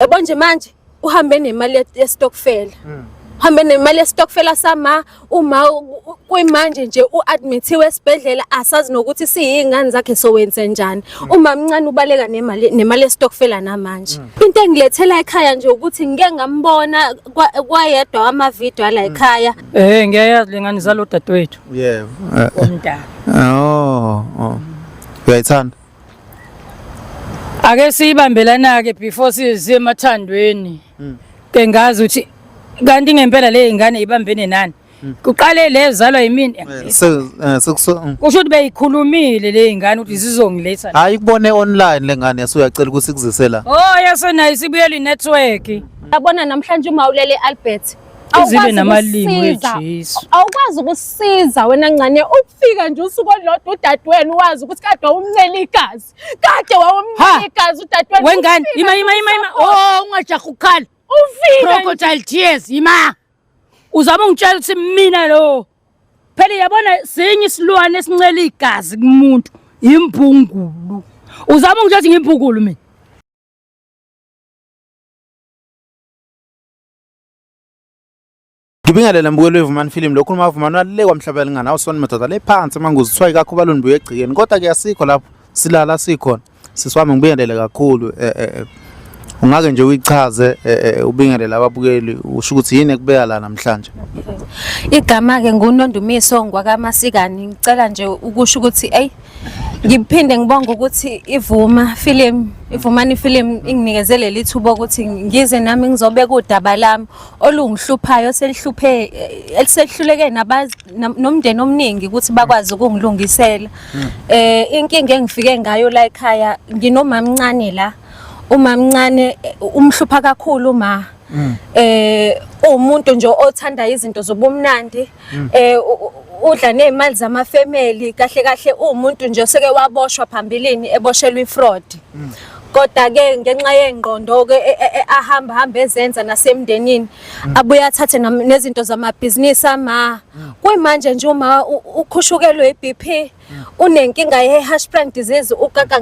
yabo nje manje uhambe nemali yestokfela mm. uhambe nemali yestokfela sama uma kwimanje nje uadmithiwe esibhedlela asazi nokuthi siyingane zakhe sowenze njani mm. uma mncane ubaleka nemali nemali yestokfela namanje mm. into engilethela ekhaya nje ukuthi ngike ngambona kwayedwa ama video la ekhaya eh ngiyayazi lengane zalo dadewethu yebo eh, eh. umntana oh, oh. uyayithanda ake siyibambelana-ke before siye emathandweni mm. ke ngazi ukuthi kanti ngempela le ingane ibambene nani mm. kuqale le zalwa yimini eh, eh, kusho mm. ukuthi beyikhulumile le ingane ukuthi zizongiletha hayi kubone online le ngane yasuyacela ukuthi kuzise la oh yasenayo sibuyela i-network yabona namhlanje uma ulele albert izibe namalimi wejesu awukwazi ukusiza wena ncane ukufika nje usuku olodwa udadewenu wazi ukuthi kade wawumncela igazi kade wawumncela igazi udadewenu wengane ima ima ima ima oh ungajaha ukukhala ufika crocodile tears ima uzama ungitshela ukuthi mina lo phela yabona sinye isilwane esincela igazi kumuntu yimbungulu uzama ungitshela ukuthi ngimbungulu mina Ngibingelela mbukelo wevumani film lokhu uma vumani walile kwamhlabela ngana awusona madoda le phansi manguzi kuthiwa ikakho baluni buye egcikeni kodwa ke asikho lapho silala sikhona sisiwami ngibingelele kakhulu eh, eh, eh. ungake nje uyichaze ubingelela ababukeli usho ukuthi yini ekubeka la namhlanje igama ke ngunondumiso ngwakamasikani ngicela nje ukusho ukuthi ey Ngiphinde ngibonga ukuthi ivuma film ivumani film inginikeze leli thuba ukuthi ngize nami ngizobeka udaba lami olungihluphayo selihluphe eh, elisehluleke nomndeni omningi ukuthi bakwazi ukungilungisela hmm. eh inkinga engifike ngayo la ekhaya nginomamncane la umamncane eh, umhlupha kakhulu ma hmm. eh umuntu nje othanda izinto zobumnandi mm. eh udla nezimali zama family kahle kahle umuntu nje oseke waboshwa phambilini eboshelwa ifraud mm. kodwa ke ngenxa yengqondo ke e, e, e, ahamba hamba ezenza nasemndenini mm. abuye athathe nezinto zamabhizinisi ama mm. kuyimanje nje uma ukhushukelwe iBP unenkinga ye-hashplant disease ukaka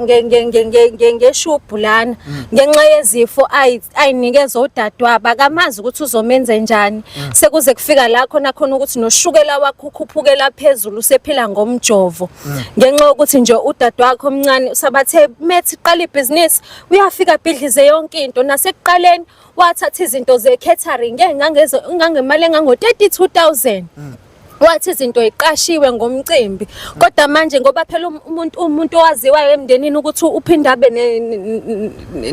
ngeshubhu lana mm. ngenxa yezifo ayinikezwa udadewabo akamazi ukuthi uzomenze njani mm. sekuze kufika la khona khona ukuthi noshukela wakho ukhuphukela phezulu usephila ngomjovo mm. ngenxa yokuthi nje udade wakho omncane usabathe methi qala ibhizinisi uyafika bhidlize yonke into nasekuqaleni wathatha izinto ze-catering engangemali engango-32 000 wathi izinto iqashiwe ngomcimbi kodwa manje ngoba phela um-, umuntu umuntu owaziwayo emndenini ukuthi uphinde abe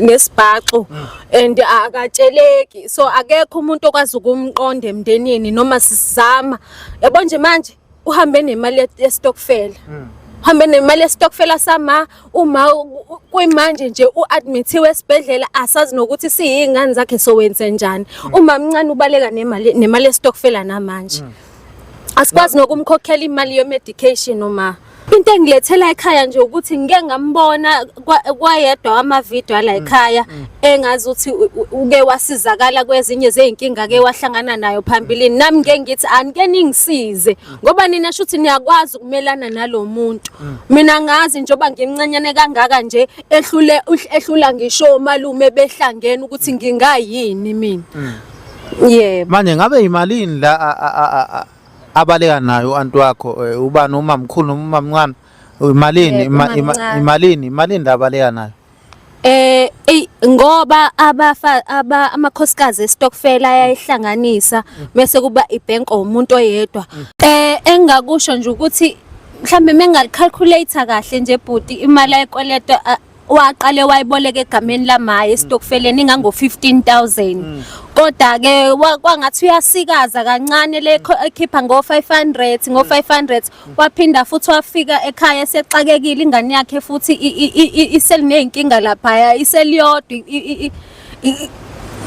nesibhaxu and akatsheleki so akekho umuntu okwazi ukumqonda emndenini noma sizama yabo nje manje uhambe nemali yestokfela uhambe nemali yestokfela sama uma kwimanje nje uadmithiwe esibhedlela asazi nokuthi siyingane zakhe sowenze njani mm. uma mncane ubaleka nemali nemali yestokfela namanje mm. asikwazi nokumkhokhela imali yemedication uma into engilethela ekhaya nje ukuthi ngike ngambona kwayedwa wamavideo ala mm. ekhaya mm. engazi ukuthi uke wasizakala kwezinye zezinkinga ke wahlangana nayo phambilini nami ngeke ngithi anike ningisize ngoba nina shuthi niyakwazi ukumelana nalomuntu mm. mina ngazi njoba ngimncanyane kangaka nje ehlule ehlula ngisho malume behlangene ukuthi mm. ngingayini mina mm. yebo manje ngabe imalini la abaleka nayo uanti wakho eh, ubani umamkhulu umamncane imalini imalini imalini labaleka nayo Eh ey ngoba abafa aba amakhosikazi estokfela ayayihlanganisa bese kuba ibank omuntu oyedwa. Eh engakusho nje ukuthi mhlambe mengalicalculator kahle nje bhuti imali ayikweletwa waqale wayiboleka egameni lamaye estokfeleni ingango 15000 kodwa ke kwangathi uyasikaza kancane le ekhipha ngo 500 ngo 500 waphinda futhi wafika ekhaya esexakekile ingane yakhe futhi iseliney'nkinga laphaya iseliyodwa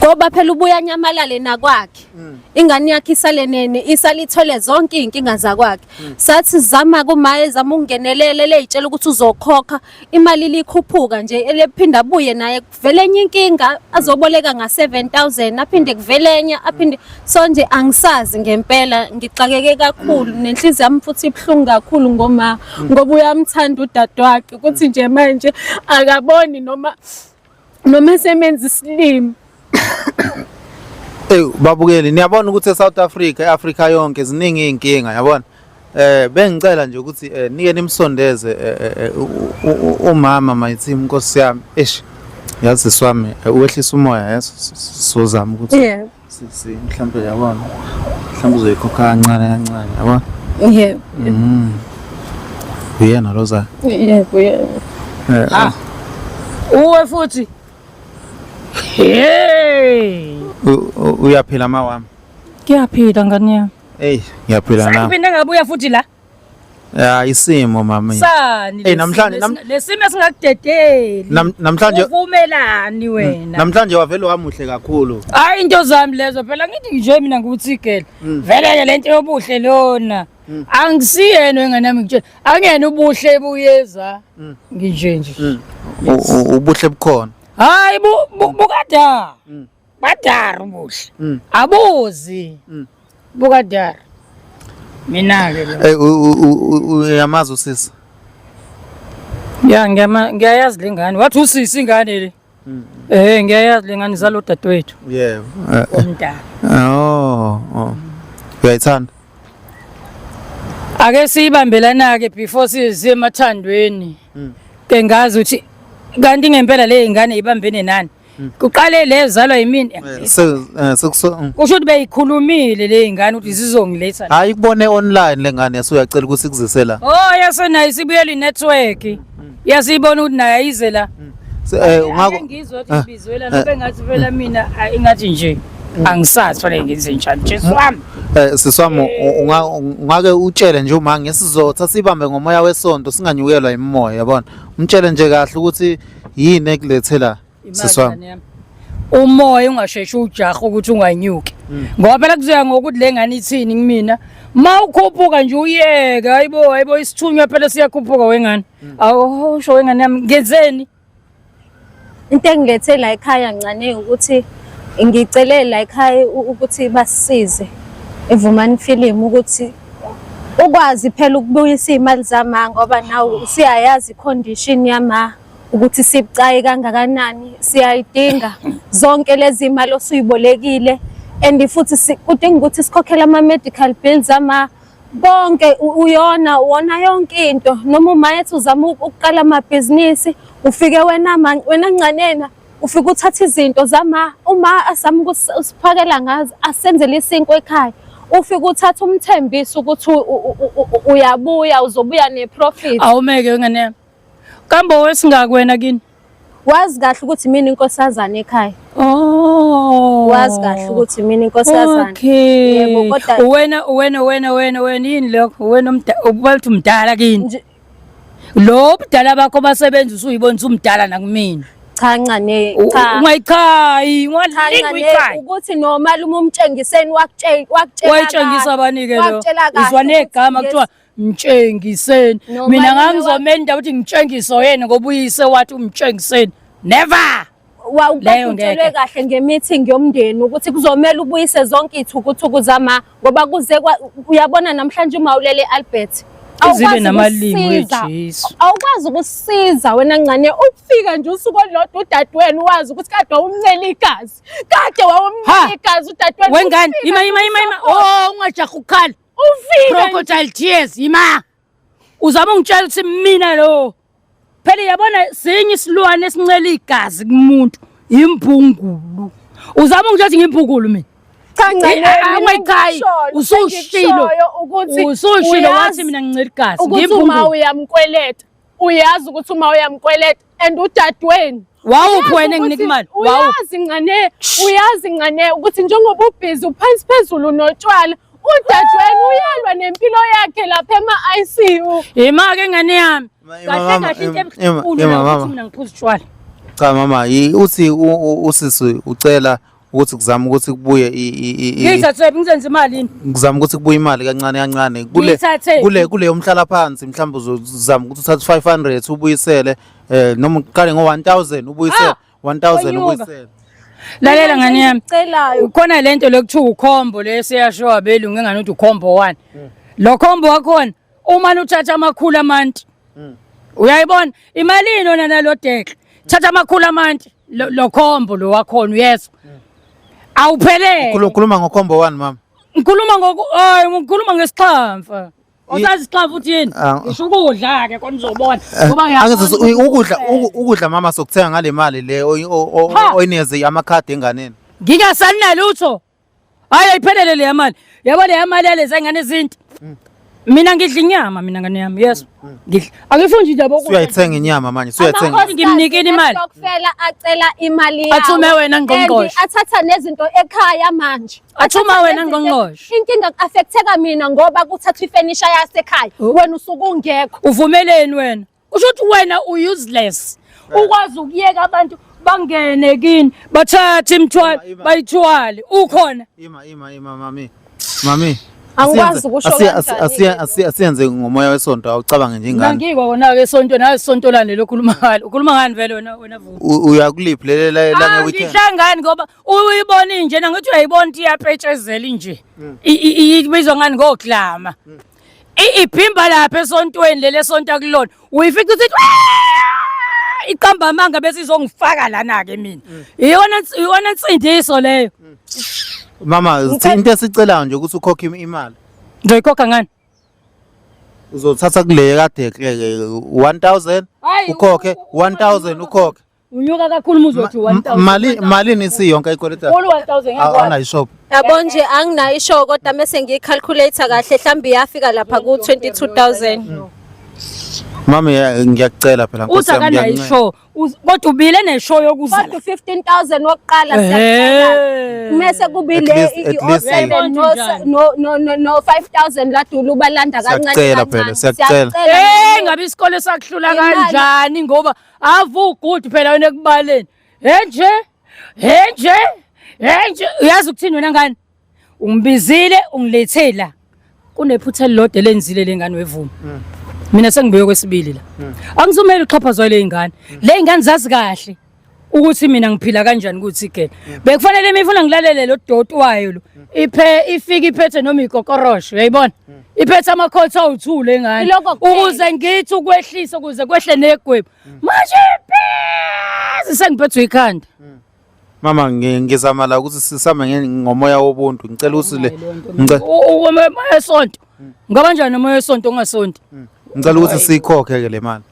ngoba phela ubuya anyamalale nakwakhe mm. ingane yakhe isalenene isalithole zonke iy'nkinga zakwakhe mm. sathi zama kumaye zama ukungenelela leyitshela ukuthi uzokhokha imali likhuphuka nje elephinda abuye naye kuvele enye inkinga azoboleka nga-7000 aphinde kuvele enye aphinde so nje angisazi ngempela ngixakeke kakhulu mm. nenhliziyo yami futhi ibuhlungu kakhulu ngoma mm. ngoba uyamthanda udadewakhe ukuthi nje manje akaboni noma noma esemenza isilimi Ey babukeli niyabona ukuthi eSouth Africa eAfrica yonke ziningi izinkinga yabona Eh bengicela nje ukuthi eh, nike nimsondeze eh, eh, eh umama my team Nkosi yami. Eish. Yazi swami eh, uwehlisa umoya yeso sozama ukuthi. Yeah. Sisi mhlambe yabona. Mhlambe uzoyikhokha kancane kancane yabona. Yeah. Mhm. Uyena Rosa. Yeah, uyena. Eh. Ah. Uwe futhi. Hey. Uyaphila mawami. Kuyaphila ngani yami. Hey, ngiyaphila na. Saphinde ngabuya futhi la. Ya isimo mama. Sani. Hey namhlanje lesimo esingakudedeli. Namhlanje uvumelani mm, wena? Namhlanje wavele wamuhle kakhulu. Hayi into zami lezo phela ngithi nje mina ngikuthi gele. Mm. Vele ke lento yobuhle lona. Mm. Angisiyena wenganami ngitshela. Angiyena ubuhle buyeza. Nginje nje. Ubuhle bukhona. Hayi bukada. badara ubuhle mm. abuzi mm. bukadara mina-ke hey, uyamazi usisi ya ngiyayazi le ngane wathi usisi ingane le mm. Eh ngiyayazi le ngane zalo dadewethu. Yebo. Umntana. Oh. oh. Uyayithanda? Ake siyibambelana ke before size emathandweni. Ke ngazi ukuthi kanti ngempela le ngane ibambene nani? Mm. Kuqale le zalwa yimini. Eh, eh, Sekusho mm. ukuthi beyikhulumile le ingane ukuthi zizongiletha. Hayi kubone online lengane yasuyacela ukuthi kuzise la. Oh yasenayo isibuyela inetwork. Mm. Yasibona ukuthi nayo ayize la. Eh ungako ngizwe ukuthi ibizwela ah. nobe ngathi vela mina ah, ingathi nje angisazi fanele ngenze njani Jesu wami. Eh siswami ungake utshele nje uma ngesizotha sibambe ngomoya wesonto singanyukelwa yimoya yabona. Umtshele nje kahle ukuthi yini ekulethe la sisi wami umoya ungasheshe ujaha ukuthi unganyuki mm. ngoba phela kuzoya ngokuthi le ngane ithini kumina ma ukhuphuka nje uyeke hayibo hayibo isithunywa phela siyakhuphuka wengane mm. awusho wengane yami ngenzeni into engilethe la ekhaya ncane ukuthi ngicele la ekhaya ukuthi basisize evumani film ukuthi ukwazi phela ukubuyisa iy'mali zama ngoba nawe usuyayazi i-condition yama ukuthi sibucayi kangakanani siyayidinga zonke lezi mali osuyibolekile and futhi kudinga ukuthi sikhokhele ama-medical bills ama konke uyona wona yonke into noma umayethi uzama ukuqala amabhizinisi ufike wena wena ncanena ufike uthatha izinto zama uma asama ukusiphakela ngazo asenzele isinkwa ekhaya ufike uthatha umthembisi ukuthi uyabuya uzobuya neprofit awumeke ngane yami kambe wesingakwena kini wazi kahle ukuthi mina inkosazana ekhaya oh wazi kahle ukuthi mina inkosazana okay yebo kodwa uwena uwena uwena uwena uwena yini lokho uwena umdala ubathi umdala kini lo budala bakho basebenza usuyibona usumdala nakumina cha ncane cha ungayichayi ungalingi uyichayi ukuthi nomalume umtshengiseni wakutshela wakutshela wayitshengisa abanike lo izwa negama kuthiwa mtshengiseni mina ngangizomenda ukuthi ngitshengiso yena ngoba uyise wathi umtshengiseni never wawukutshelwe kahle nge-meeting yomndeni ukuthi kuzomele ubuyise zonke iy'thukuthuku zama ngoba kuze uyabona namhlanje uma ulele albert awukwazi ukusiza wena ncane ukufika nje usuku olulodwa udadewenu wazi ukuthi kade wawumncela igazi kade wawumncela igazi udadewenu wengane yima yima yima yima o oh, ungajaha ukukhala ufike crocodile tears yima uzama ungitshela ukuthi mina lo phela yabona sinye isilwane esincela igazi kumuntu imbungulu uzama ukuthatha ngimbungulu mina cha ncanceangichayi usushilo usushilo wathi mina ngincela igazi ukuthi uma uyamkweleta uyazi ukuthi uma uyamkweleta and udadweni wawuphi wena enginika imali uyazi ngane uyazi ngane ukuthi njengoba ubhizi uphansi phezulu notshwala Udadewenu uyalwa nempilo yakhe lapha ema-ICU. Yima ke ngane yami. Kahle kahle into ebuhlungu ukuthi mina ngiphuza utshwala. Cha mama, uthi usisi ucela ukuthi kuzama ukuthi kubuye ngithathe ngizenze imali ngizama ukuthi kubuye imali kancane kancane kule kule kule yomhlala phansi mhlawumbe uzozama ukuthi uthathe 500 ubuyisele eh noma uqale ngo 1000 ubuyisele ah! 1000 ubuyisela lalela ngane yami ukhona lento lokuthiwa ukhombo lesiyasho abelungu engane uthi ukhombo one hmm. lo khombo wakhona uma luthatha amakhulu amanti hmm. uyayibona imali yini ona nalo dekle thatha amakhulu amanti lo khombo lo wakhona uyezwa hmm. awuphelele ukhuluma ngokhombo one mama ngikhuluma ngoku hayi ngikhuluma ngesixhamfa Usazi isixafu futhi yini? Ah. Ngisho ukudla ke konje uzobona. Eh, Ngoba ngiyakwazi ukudla ukudla mama sokuthenga ngale mali le oyinikeze amakhadi enganeni. Ngingasanina lutho. Hayi ayiphelele le mali. Yabo le mali yaleza ingane izinto. Mm. Mina ngidla inyama mina ngane yami. Yes. Mm, mm. Ngidla. Angifuni nje yabo ukudla. Suyayithenga inyama manje. Suyayithenga. Akhona ngimnikini imali. Ukufela acela imali yawo. Athume wena ngqongqoshe. Athatha nezinto ekhaya manje. Athuma wena ngqongqoshe. Inkinga ku-affecteka mina ngoba kuthathwa ifenisha yasekhaya. Oh. Wena usuke ungekho. Uvumeleni wena? Usho ukuthi wena u-useless. Eh. Ukwazi ukuyeka abantu bangene kini bathathe imithwalo bayithwale ukhona. Ima ima ima mami. Mami. Angikwazi ukusho kanjani. Asiyenze ngomoya wesonto awucabange nje ingane. Ngangikwa wona ke sonto nawe sonto lane lokhuluma ngalo. Ukhuluma ngani vele wena wena vuka. Uyakuliphi lele la la ah, weekend. Ngihlangani ngoba uyibona inje na ngithi uyayibona ukuthi iyapetshezela inje hmm. ibizwa ngani ngoglama hmm. iphimba lapha esontweni leli esonta kulona uyifica ukuthi iqamba amanga bese izongifaka lana-ke mina hmm. iyona nsindiso leyo mama into esicelayo nje ukuthi ukhokhe imali ngizoyikhokha ngani uzothatha kule kade ekleke 1000 ukhokhe 1000 ukhokhe Unyuka kakhulu umuzi wethu 1000. Mali malini isiyonke ikweleta? Khulu 1000 ngeke. Awuna ishop. Yabo nje anginayo isho kodwa mese ngiyicalculator kahle mhlambi yafika lapha ku 22000. Mami eh, ngiyakucela phela Nkosi Uza yami kana ngiyakuncela. isho. Uz- Kodwa ubile neshow yokuzala. Kodwa 15000 wokuqala siyacela. Ehhe. Mese kubile At least- i- at least i- o7 no Kanjani? no no no- no 5000 ladula ubalanda kancane Siyacela phela, kancane. siyacela. Siyacela. Eh ngabe isikole sakuhlula Imali. kanjani ngoba avu good phela wena ekubaleni enje enje enje uyazi ukuthini wena ngani ungibizile ungilethela kunephutha elilodwa elenzile lengane wevuma hmm. mina sengibuye kwesibili la hmm. angizumele uxhaphazwa le ingane hmm. le ingane zazi kahle ukuthi mina ngiphila kanjani ukuthi ke bekufanele imifuna ngilalele lo doti wayo lo iphe ifike iphethe noma ikokorosho uyayibona iphethe amakhotha awu-two le ngane Ilokho kuphela. ukuze ngithi ukwehlise ukuze kwehle negwebu manje pezi sengiphethwe ikhanda mama ngi- ngizama la ukuthi sisame nge- ngomoya wobuntu ngicela ukuthi le ngice- umoya wesonto ngaba njani umoya wesonto ongasonti ngicela ukuthi siyikhokhe ke le mali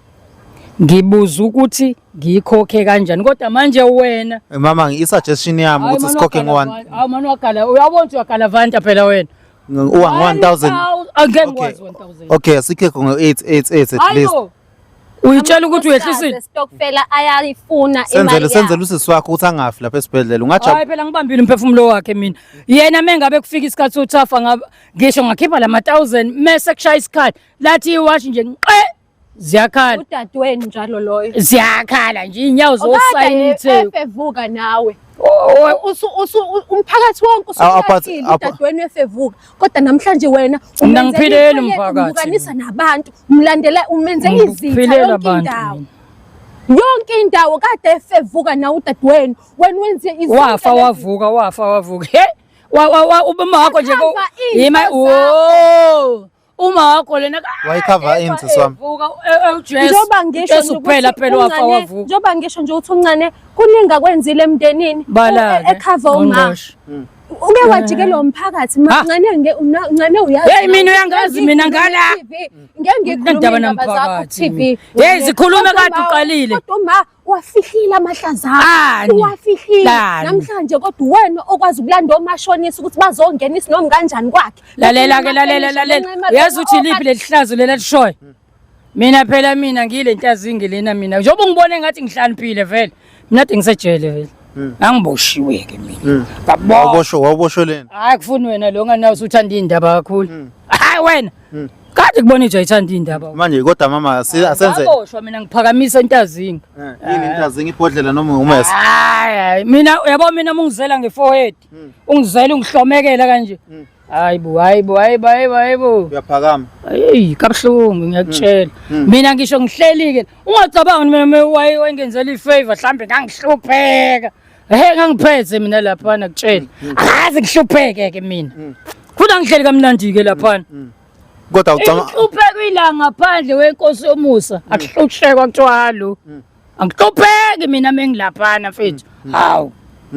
ngibuza ukuthi ngiyikhokhe kanjani kodwa manje wena Eh, mama i-suggestion yami ukuthi sikhokhe ngo-one awu mani wagala uyabona ukuthi uyagalavanta phela wena Uwa 1000. Again okay. was 1000. Okay, sikhe ngo 8 8 8 at least. Ayo. Uyitshela ukuthi uyehlisile. Stokfela ayayifuna imali. Senzele senzele usisi wakho ukuthi angafi lapha esibhedlela. Ungathi Hayi phela ngibambile umphefumulo wakhe mina. Yena mengabe kufika isikhathi sothafa ngisho ngakhipha lama 1000 mese kushaya isikhathi. Lathi iwash nje nqe ziyakhala udadewenu njalo loyo ziyakhala nje inyawo zosayithe efevuka nawe umphakathi wonke usuphakathile udadewenu efevuka kodwa namhlanje wena unangiphilele umphakathi nabantu umlandela umenze izitha yonke indawo yonke indawo kade efevuka nawe udadewenu wena wenze izinto wafa wavuka wafa wavuka he wa wa wa ubama wakho nje ko yima wo uma wakho lena wayikhava ini sisi wami njengoba ngisho kuphela phela wafa wavuka njengoba ngisho nje ukuthi uncane kuningi akwenzile emndenini ekhava umama hmm. uke wajikelwa eh. umphakathi mancane uncane uyazi hey mina uyangazi mina ngala ngeke ngikhulume indaba zakho TV hey zikhulume kade uqalile kodwa uma wafihlile amahlaza Ani? wafihlile Lani? namhlanje kodwa uwena okwazi ukulanda omashonisa ukuthi bazongena isinomi kanjani kwakhe lalela ke lalela lalela uyazi ukuthi liphi leli hlazo leli elishoyo mina phela mina ngiyile ntazingi lena mina njengoba ungibone ngathi ngihlaniphile vele mina kade ngisejele vele ngangiboshiwe ke mina ngabona Wawuboshwe wawuboshwe lena. hayi kufuni wena lo nganawo usuthanda iy'ndaba kakhulu hayi wena Kade kubona ijwa ithanda indaba. Manje kodwa mama asi- asenze Ngaboshwa mina ngiphakamisa intazinga. Eh, yini intazinga ibhodlela noma umese. Hayi hayi, mina yabo mina mungizela ngeforehead. Hmm. Ungizela ungihlomekela kanje. Hmm. Hayi bo, hayi bo, hayi bo, hayi bo, hayi bo. Uyaphakama. Hey, kabuhlungu ngiyakutshela. Hmm. Mina ngisho ngihlelike. Ungacabangi mina me- waye wayengenzela ifavor mhlambe ngangihlupheka. Ehe ngangiphethe mina lapha nakutshela. Akaze ngihlupheke ke mina. Futhi angihleli kamnandi ke lapha. Kodwa ucama Uhlupheka ilanga ngaphandle wenkosi yomusa. Akuhlushekwa kuthiwa halo. Angihlupheki mina mengilaphana mfethu. Hawu.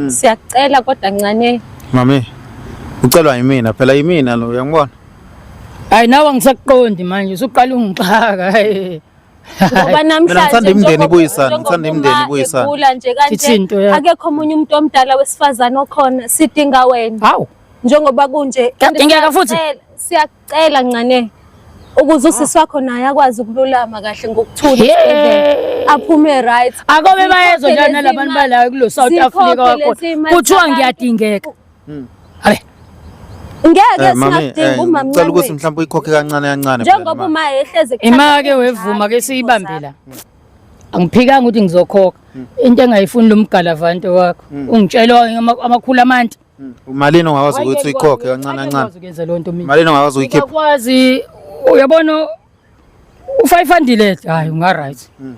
Siyacela kodwa ncane. mami ucelwa yimina phela yimina lo uyangibona. Hayi nawe angisakuqondi manje usuqala ungixaka. Hey. ngoba namhlanje imndeni ibuyisana ngithanda imndeni ibuyisana ugula nje kanje akekho omunye umuntu omdala wesifazana okhona sidinga wena hawu njengoba kunje ngeke futhi siyacela ncane ukuze usisi wakho naye akwazi ukululama kahle ngokuthula aphume right akobe bayezwa njani labantu balayo kulo South Africa wakho kuthiwa ngiyadingeka Hmm. Hayi. Ngeke eh, singadinga eh, umama. Ngicela ukuthi mhlawumbe uyikhokhe kancane kancane. Njengoba uma ehleze ekhaya. Imali ke wevuma ke siyibambela. Angiphikanga ukuthi ngizokhokha. Hmm. Into engayifuni lomgalavante wakho. Hmm. Ungitshela amakhulu amanti. Umalini ongakwazi ukuthi uyikhokhe kancane kancane. Uyazi ukwenza lonto mina. Malini ongakwazi uyikhipha. Uyakwazi uyabona u-five hundred hayi unga-right hmm.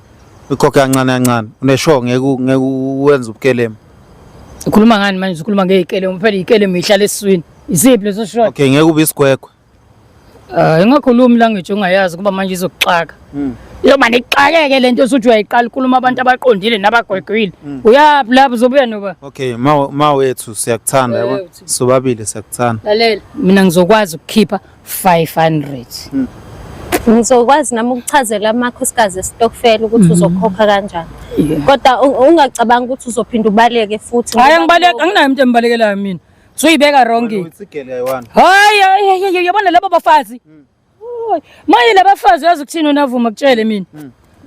ukhokhe kancane kancane uneshow ngeke ngeke uwenze ubukelemu ukhuluma ngani manje ukhuluma ngey'kelemu phela iy'kelemu yihlala esiswini isiphi leso shot okay ngeke ube isigwegwe um ingakhulumi language ongayazi kuba manje izokuxaka hmm. yoba nixakeke le nto osuthi uyayiqala ukhuluma abantu abaqondile nabagwegwile hmm. uyaphi lapho uzobuya noba okay ma wethu siyakuthanda sobabili siyakuthanda lalela mina ngizokwazi ukukhipha 500 hmm. ngizokwazi nami ukuchazela amakhosikazi esitokfela ukuthi hmm. uzokhokha kanjani kodwa ungacabanga ukuthi uzophinde ubaleke futhi hayi angibaleki anginayo umuntu embalekelayo mina soyibeka wrong hayi hayi yabona labo bafazi hmm. maye labafazi uyazi ukuthini unavuma kutshele mina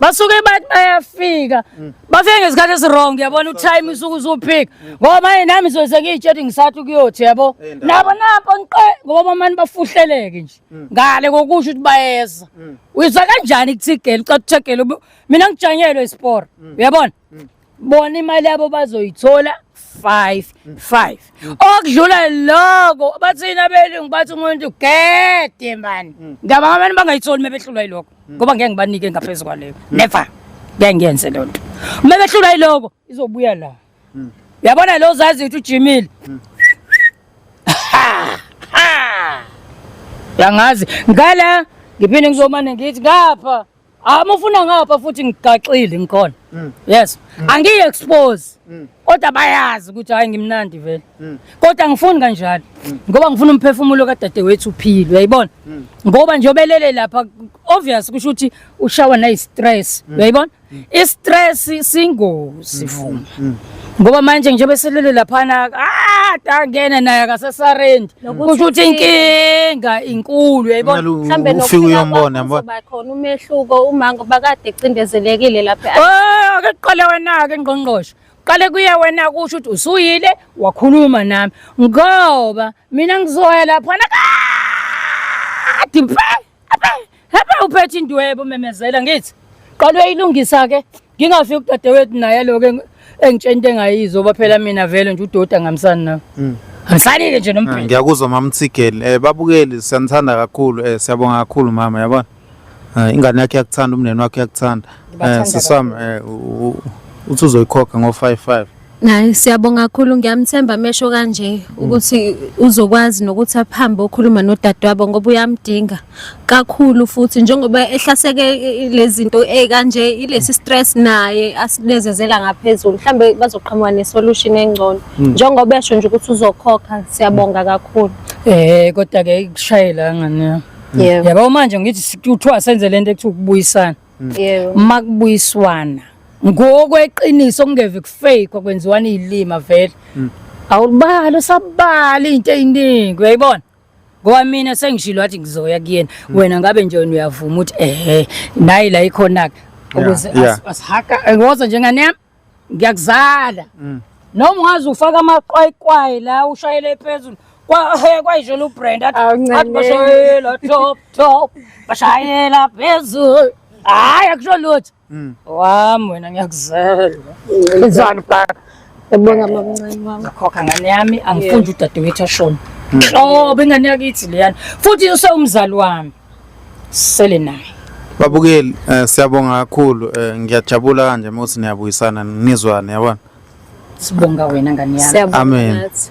basuke bathi bayafika mm. bafike ngesikhathi esirong yabona utime usuke usuphika mm. ngoba manje nami soze ngiyitshela ngisathi kuyothi yabo nabo napo nqe ngoba bamani bafuhleleke nje mm. ngale kokusho ukuthi bayeza uyizwa kanjani kuthigela ucathegela mina ngijanyelwe isport uyabona mm. bona imali yabo bazoyithola 5 5 mm. okudlula lokho bathini abelungu bathi umuntu gede mani mm. ngiyabanga abantu bangayitholi mebehlulwa yilokho mm. ngoba ngeke ngibanike ngaphezulu kwaleyo never ngeke ngiyenze leyo nto uma behlulwa yilokho izobuya la yabona lo zazi ukuthi ujimile yangazi ngala ngiphinde ngizomane ngithi ngapha Ah mufuna ngapha futhi ngigaxile ngikhona. Mm. Yes. Mm. Angiyi expose. Mm. Kodwa bayazi ukuthi hayi ngimnandi vele. Mm. Kodwa ngifuni kanjalo. Mm. Ngoba ngifuna umphefumulo kadadewethu uphile, uyayibona? Mm. Ngoba nje obelele lapha obvious kusho ukuthi ushawa nayi stress, mm. uyayibona? Mm. I stress singozi mm. vuma. Mm. Mm. ngoba manje njengoba selele laphana ah tangena naye akasesarendi kusho ukuthi inkinga inkulu yayibona mhlawumbe nokufika uyombona yabona khona umehluko uma ngoba kade ecindezelekile lapha oh ake qale wena ke ngqongqosho qale kuye wena kusho ukuthi usuyile wakhuluma nami ngoba mina ngizoya lapha na kade mfana Hepha uphethe indwebo memezela ngithi qala uyayilungisa ke ngingafiki udadewethu naye lokho engitshela into engayizo ba phela mina vele nje udoti angamsani nawe mm. angisanike nje nomphela ah, ngiyakuzwa mama Tsigeli eh babukeli siyanithanda kakhulu eh siyabonga kakhulu mama yabona eh, ingane yakhe yakuthanda umndeni wakhe yakuthanda eh sisami eh uthi uzoyikhokha ngo 55 Naye siyabonga kakhulu ngiyamthemba amesho kanje ukuthi uzokwazi nokuthi aphambe okhuluma nodadewabo ngoba uyamdinga kakhulu futhi njengoba ehlaseke lezinto ekanje ilesi stress naye asinezezela ngaphezulu mhlambe bazoqhamuka ne solution engcono hmm. njengoba esho nje ukuthi uzokhokha siyabonga kakhulu eh kodwa ke ikushayela ngane yabo manje ngithi kuthiwa senze lento ekuthiwa ukubuyisana yebo makubuyiswana ngokweqiniso kungeve kufake okwenziwana izilima vele mm. awulibali usabali into eziningi uyayibona ngoba mina sengishilo wathi ngizoya kuyena mm. wena ngabe nje wena uyavuma ukuthi ehe nayi la ikhona ke ukuze asihaka ngozo njengane yami ngiyakuzala mm. noma ungaze ufake amaqwayiqwayi la ushayele phezulu kwayishela ubrand athi bashayela top top bashayela phezulu hhayi akusho lutho mm. wami wena ngiyakuzela enzani bhaka ebonga mamncane wami khokha ngane yami angifundi udadewethu ashona nhlobo ingane yakithi leyana futhi usewumzali wami sele naye babukeli eh, siyabonga kakhulu eh, ngiyajabula kanje uma uthi niyabuyisana nizwane yabona sibonga wena ngani yami Siyabonga Amen. nathi.